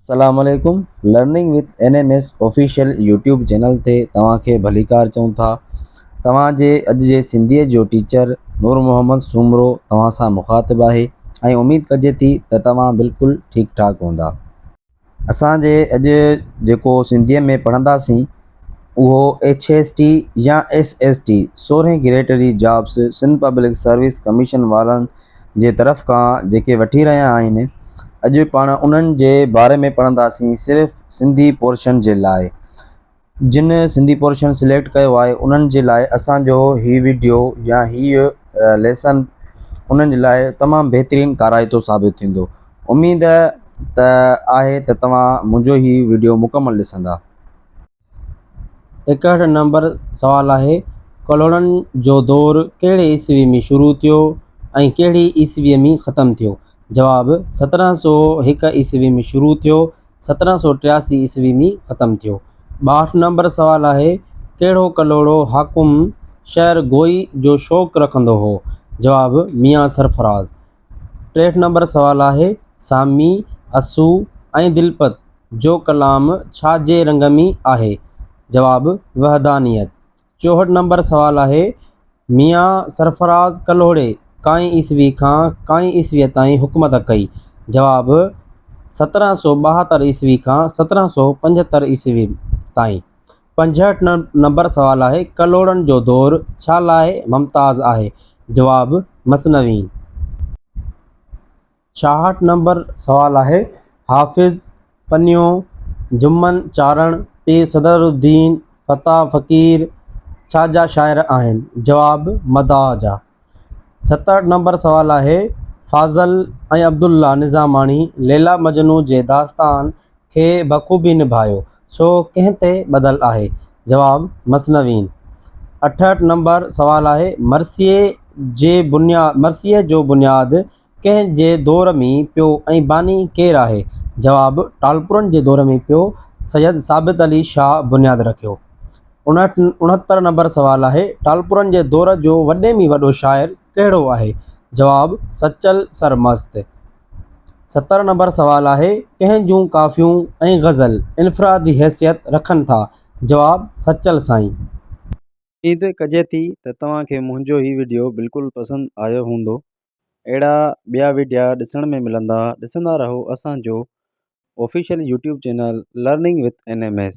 السلام عليڪم learning with N M S official YouTube channel تي توهان کي ڀليڪار چئون ٿا توهان جي اڄ جي سنڌي جو ٽيچر نور محمد سومرو توهان سان مخاطب آهي ۽ اميد ڪجي ٿي ته توهان بلڪل ٺيڪ ٺاڪ هوندا اسان جي اڄ جيڪو سنڌيء ۾ پڙهنداسين اهو ايڇ ايس ٽي يا ايس ايس ٽي سورهين گريڊ جي jobs Sindh public service commission وارن جي طرف کان جيڪي وٺي رهيا آهن اڄ پاڻ انهن جي باري ۾ پڙهنداسين صرف سنڌي پورشن جي لاء جن سنڌي پورشن سليڪٽ ڪيو آهي انهن جي لاء اسان جو هي وڊيو يا هي ليسن انهن جي لاء تمام بهترين ڪارائتو ثابت ٿيندو اميد ته آهي ته توهان منهنجو هي وڊيو مڪمل ڏسندا. ايڪهٺ نمبر سوال آهي ڪلهوڙن جو دور ڪهڙي عيسوي ۾ شروع ٿيو ۽ ڪهڙي عيسوي ۾ ختم ٿيو جواب سترهن سؤ هڪ عيسوي ۾ شروع ٿيو سترهن سؤ ٽياسي عيسوي ۾ ختم ٿيو. ٻاهٺ نمبر سوال آهي، ڪهڙو ڪلهوڙو حاڪم شعر گوئي جو شوق رکندو هو؟ جواب، ميان سرفراز. ٽيهٺ نمبر سوال آهي، سامي، اسو ۽ دلپت جو ڪلام ڇا جي رنگ ۾ آهي؟ جواب، وحدانيت. چوهٺ نمبر سوال آهي، ميان سرفراز ڪلهوڙي ڪائين عيسوي کان ڪائين عيسويء تائين حڪومت ڪئي؟ جواب، سترهن سؤ ٻاهتر عيسوي کان سترهن سؤ پنجهتر عيسوي تائين. پنجهٺ نمبر سوال آهي، ڪلهوڙن جو دور ڇا لاء ممتاز آهي؟ جواب، مثنوي. ڇاهٺ نمبر سوال آهي، حافظ، پنيو، جمن، چارڻ، پير صدر الدين، فتح، فقير، ڇا جا شاعر آهن؟ جواب، مداح جا. ستهٺ نمبر سوال آهي، فاضل ۽ عبدالله نظاماڻي ليلا مجنون جي داستان کي بخوبي نڀايو، سو ڪنهن تي ٻڌل آهي؟ جواب، مثنوين. اٺهٺ نمبر سوال آهي، مرثيي جي بنياد مرثيي جو بنياد ڪنهن جي دور ۾ پيو ۽ باني ڪير آهي؟ جواب، ٽالپرن جي دور ۾ پيو سيد ثابت علي شاهه بنياد رکيو. اڻهتر نمبر سوال آهي، ٽالپرن جي دور جو وڏي ۾ وڏو شاعر ڪهڙو آهي؟ جواب، سچل سر مست. ستر نمبر سوال آهي، ڪنهن جون ڪافيون ۽ غزل انفرادي حيثيت رکن ٿا؟ جواب، سچل سائين. اميد ڪجي ٿي ته توهان کي منهنجو هي وڊيو بلڪل پسند آيو هوندو اهڙا ٻيا وڊيا ڏسڻ ۾ ملندا ڏسندا رهو اسان جو official YouTube channel learning with N M S.